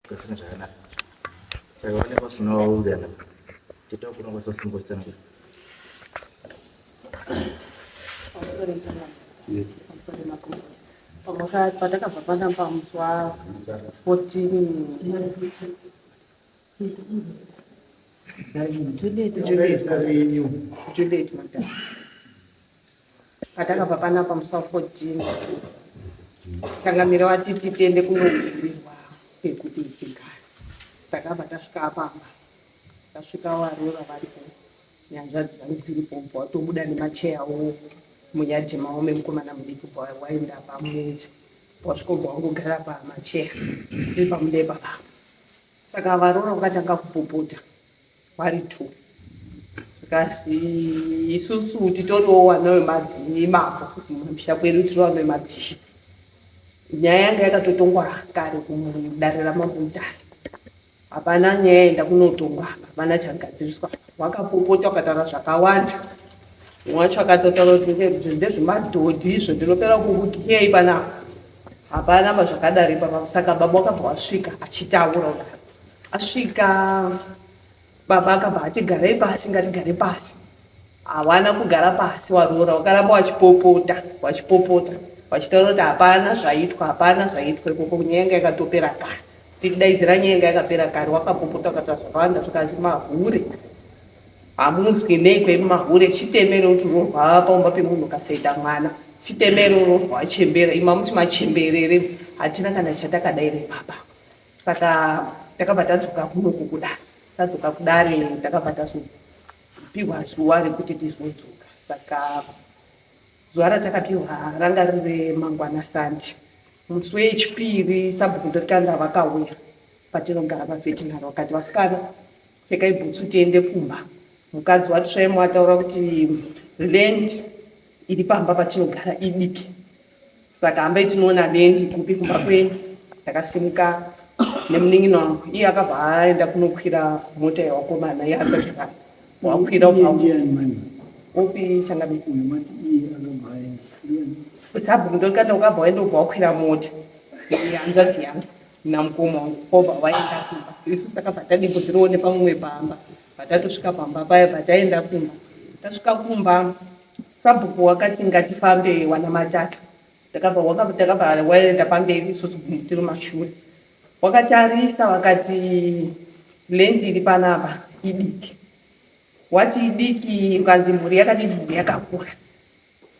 Kudzina zvakanaka. Saka vane vasina vaungana. Tito kuna kwasa simbo tsana. Yes. Pamwaka patakabva pana pamuswa 14 Juliet Juliet Juliet madam patakabva panapa musi wa 14 changamire wati titende kunokumbirwa pekuti tigare takabva tasvika apapa tasvika varora varipo nyanzvadzi dzangu dziripo bva watobuda nemacheya wo munyadhi mavo memukomana mudiki bva waenda pamuti wasvikobva wangogara pamacheya tiri pamudepa papa saka varora vakatanga kupopota vari two zvikasi isusu titoriwo wana wemadzimai mako kumusha kwedu tiri wana wemadzishe nyaya yanga yakatotongwa kare kudare ramambo mutasa hapana nyaya yenda kunotongwa apa hapana chagadziriswa wakapopota ukataura zvakawanda wacho akatotaura kuti ndezvemadhodhi izvo ndinopera kukukiyai panapa hapana mazvakadari panapa saka baba wakabva wasvika achitaura kudaro Asvika baba akabva ati garei pasi ngatigare pasi. Hawana kugara pasi waroora wakaramba wachipopota wachipopota wachitaura kuti hapana zvaitwa hapana zvaitwa ikoko nyaya yanga yakatopera kare. Tikudaidzira nyaya yanga yakapera kare wakapopota ukataura zvakawanda zvikazi mahure hamunzwi nei kwedu mahure chitemere kuti uroorwa paumba pemunhu ukasaita mwana chitemere uroorwa wachembera ima musi machemberere hatina kana chatakadaire baba. saka takabva tadzoka kuno kukuda tadzoka kudare takabva tazopihwa zuva rekuti tizodzoka saka zuva ratakapihwa ranga riri mangwana sandi musi wechipiri sabhuku ndotanda vakauya patinogara pafetinari vakati vasikana Pfekai bhutsu tiende kumba. Mukadzi waTremo ataura kuti land iri pamba patinogara idiki saka hambai tinoona land kupi kumba kwenyu. Takasimuka nemunin'ina wangu iye akabva aenda kunokwira mota yewakomana yeakadzisana wakwira upi changabe sabhuku ndokanda ukabva waenda ubva wakwira mota hanzvadzi yangu namukoma wangu kwobva waenda kumba isu saka patadimbo dzirione pamumwe pamba patatosvika pamba paya pataenda kumba tasvika kumba sabhuku wakati ngatifambe wana matatu takabva waenda pamberi isusu tiri mashure wakatarisa wakati lendi iri panapa idiki wati idiki ukanzi mhuri yakadii mhuri yakakura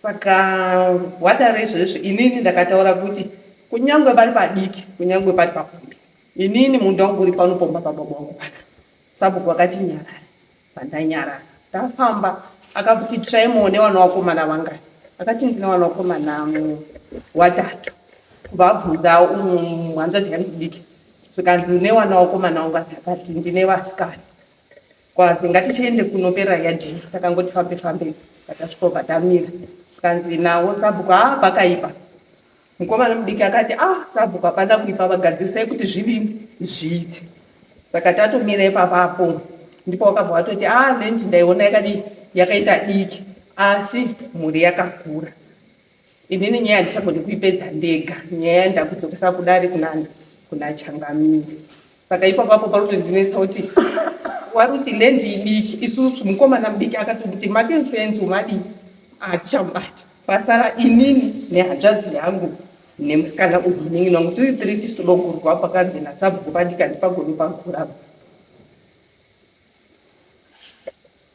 Saka gwada rezvezvi inini ndakataura kuti kunyangwe vari padiki kunyangwe pari pakombi inini munda wangu uri pano pomba pababa wangu pana sabhuku vakati nyarare pandanyarara ndafamba akakuti tsvai muone vana vakomana vangani akati ndine vana vakomana watatu kubva abvunza um, hanzvadzi yangu diki zvikanzi une vana vakomana vangani akati ndine vasikana kwazi ngatichiende kunopera yadini takangoti fambe fambe patasvikobva tamira kanzi nawo sabhuku haa ah, pakaipa mukomana mudiki akati ah sabhuku hapana kuipa vagadzirisai kuti zvidini zviite saka tatomira ipapapo ndipo wakabva watoti ah lenti ndaiona yakadii yakaita diki asi mhuri yakakura Inini nyaya ndichagoni kuipedza ndega nyaya yandakudzokesa kudare kunani kuna changamire saka iko papo pari kutondinetsa kuti wari kuti land idiki isusu mukomana mudiki akati kuti make mfenzi umadii hatichamubata pasara inini nehanzvadzi yangu nemusikana uyu inenge nangu tiri tiri tisidogurwa pakanzi nasabhuku padika ndipagoni pagurapa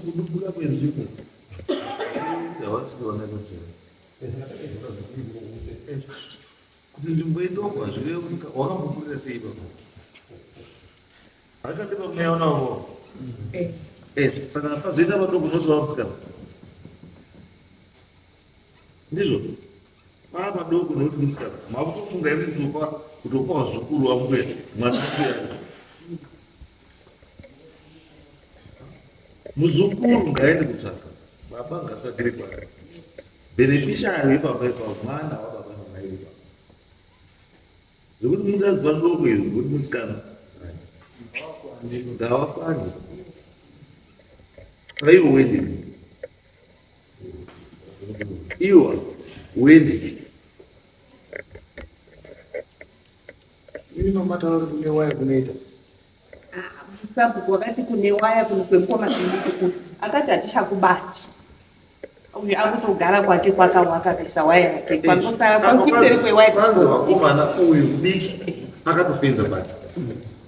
kudubula kwenzvimbo dzavasikaona kachena kuti nzvimbo idoko hazvive wakambokurira sei baba haikati pamweya unavo eh. eh, saka pazoita vadoko zvose vamusikana ndizvo pava padoko nekuti musikana makutofunga imi kutopa kutopa wazukuru wambuya mwana wambuya muzukuru ngaende kutsvaka baba ngatsvagire kwake beneficiary yebaba ipapo mwana wababa namai ipapo zvekuti mukadzi padoko izvi zvekuti musikana ngavakwande saiwo wendimi iwa uende ini mama taura kuti kune waya kunoita ah, sabhuku wakati kune waya kuno kwemukoma zvinikuku akati hatichakubati uyu akutogara kwake kwakawaka kaisa waya yake kwanosara kwakuseri kwewaya tichikomana uyu diki akatofenza bati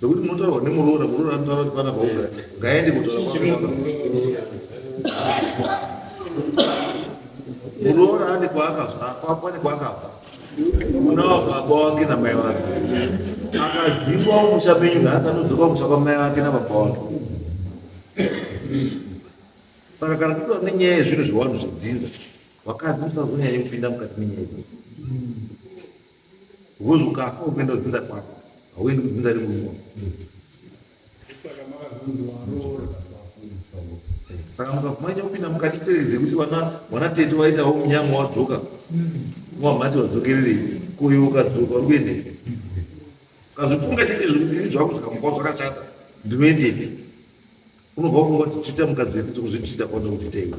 Nekuti munotaurwa nemuroora, muroora anotaura kuti pana paunga ngaende kutaura muroora ane kwaakabva kwakwa ne kwaakabva unawo baba wake namai vake akadzingwa umusha menyu nhasi anodzoka umusha kwamai vake nababa wake saka kana titoa nenyaya yezvinhu zvewanhu zvedzinza vakadzi musazonyanye kupinda mukati menyaya idzodzo Ngozi ukafa ukuenda kudzinza kwako, hauendi kudzinza remuruwa. Saka mukakumanya kupinda mukati tseredze kuti vana vana tete waitawo munyama wadzoka wamhati wadzokererei kuyo ukadzoka uri kuendepi ukazvifunga chete zvekuti ini zvangu zvikamukawo zvakashata ndinoendepi unobva ufunga kuti tsvita mukadzi wese tikuzvitsvita kwanda kuzviita iwe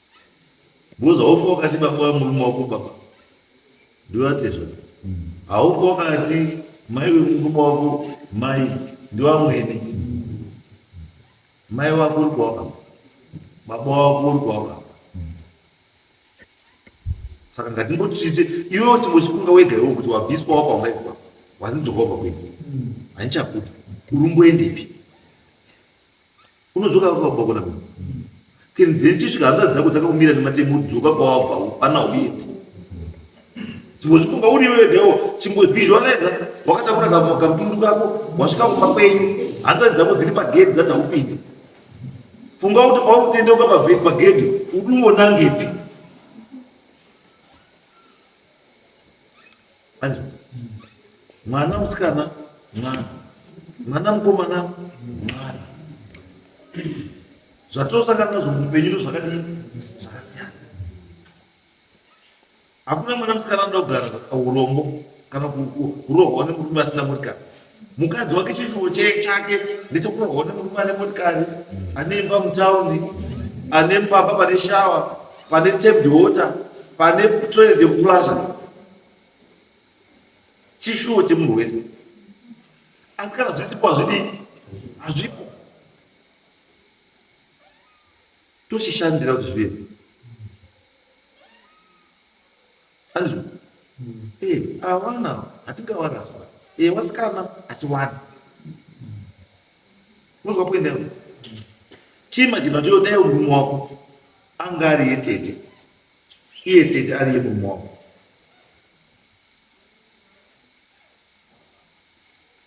Boza haufi wakati baba wemurume wako baba ndivatezva haufi wakati mai wemurume wako mai ndivamwene mai wako uri kwawaka baba wako uri kwawaka saka ngatimboti tiite iwewo chimbochifunga wega iwo kuti wabviswa wapa ungaikwa wazinzokwa wapa kwedu handichakuti urumboendepi unodzoka kwako kwako na then chisvika hanzvadzi dzako dzakakumira nematemo dzoka kwawabva pana uyendi chimbochifunga uri iwe wegawo chimbovisualiza wakatakura kamutundu kako wasvika kumba kwenyu hanzvadzi dzako dziri pagedhi dzati haupindi funga kuti paukutendeuka pagedhi unoonangepi Manje, mwana musikana mwana mwana mukomana mwana zvatosangana nazvo muupenyu ndo zvakadii zvakasiyana hakuna mwana musikana anoda kugara urombo kana kurohwa nemurume asina motikari mukadzi wake chishuwo chake ndechokuona murume ane motikari ane imba mutaundi ane pamba pane shawa pane tamed water pane toilet yekuflasha chishuwo chemunhu wese asi kana zvisipo hazvidii hazvipo toshishandira kuti zvive anzwa eh awana hatingawarasa eh wasikana asi wani unozwa kuenda iwe chiimajina kuti yodai murume wako anga ari yetete iye tete ari yemurume wako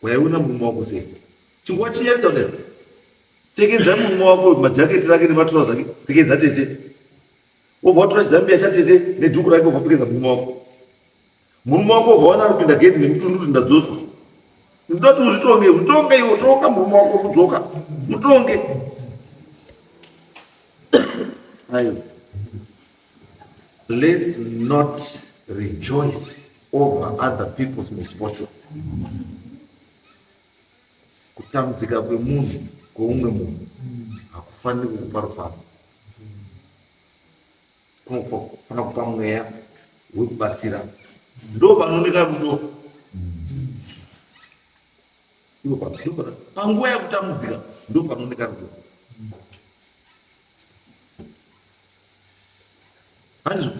waiona murume wako sei chinguva chiyesa kudai pfekedza murume wako majaketi rake nematirauzi ake pfekedza tete wobva watora chizambiya chatete nedhuku rake ukapfekeza murume wako murume wako wobva wana kupinda gedhi nemutundu kuti ndadzoswa ndinoda kuti uzvitonge utonge iwo tonga murume wako kudzoka mutonge ayo let's not rejoice over other people's misfortune kutambudzika kwemunhu kweumwe munhu hakufaniri kukupa rufaro kunofanira kupa mweya wekubatsira ndo panooneka rudo panguva yekutambudzika ndo panooneka rudo Hanzvo.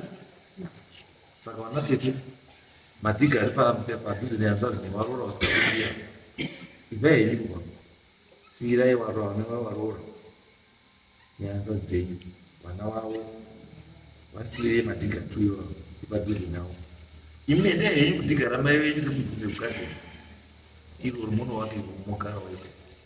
Saka vana tete madhiga ari padhuze nehanzvazi nevaroora vasikakuia ibvai henyu kubva siirai varoora vana vavo varoora nehanzvazi dzenyu vana vavo vasiirei madhiga tuyo ipadhuze navo imi nendaya yenyu kudhigara mai venyu nemudhuze kugadzira iro rumono wake rumogaroiko